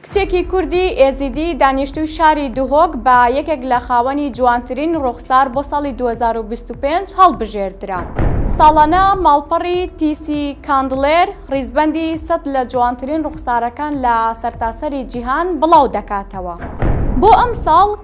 کچێکی کوردی ئێزیدی دانیشتووی شاری دهۆک بە یەکێک لە خاوەنی جوانترین ڕووخسار بۆ ساڵی دوو هەزار و بیست و پێنج هەڵبژێردرا. ساڵانە ماڵپەڕی تیسی کاندڵێر ڕیزبەندی سەد لە جوانترین ڕووخسارەکان لە سەرتاسەری جیهان بڵاو دەکاتەوە. بۆ ئەمساڵ،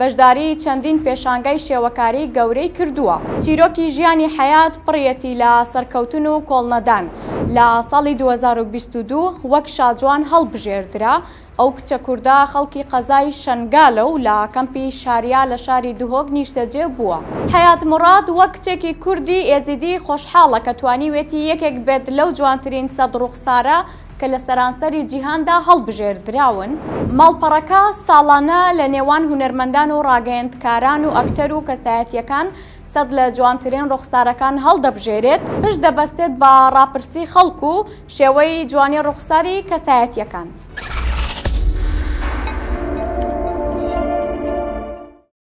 بەشداریی چەندین پێشانگای شێوەکاری گەورەی کردووە. چیرۆکی ژیانی حەیات پڕیەتی لە سەرکەوتن و کۆڵنەدان. لە ساڵی دوو هەزار و بیست و دوو وەک شاجوان هەڵبژێردرا. ئەو کچە کوردە خەڵکی قەزای شەنگالە و لە کەمپی شاریا لە شاری دهۆک نیشتەجێ بووە. حەیات موراد وەک کچێکی کوردی ئێزیدی خۆشحاڵە کە توانیوێتی یەکێک بێت لەو جوانترین سەد ڕووخسارە کە لە سەرانسەری جیهاندا هەڵبژێردراون. ماڵپەڕەکە ساڵانە لە نێوان هونەرمەندان و ڕاگەیەندکاران و ئەکتەر و کەسایەتییەکان سەد لە جوانترین ڕوخسارەکان هەڵدەبژێرێت، پشت دەبەستێت بە ڕاپرسی خەڵک و شێوەی جوانی ڕوخساری کەسایەتییەکان.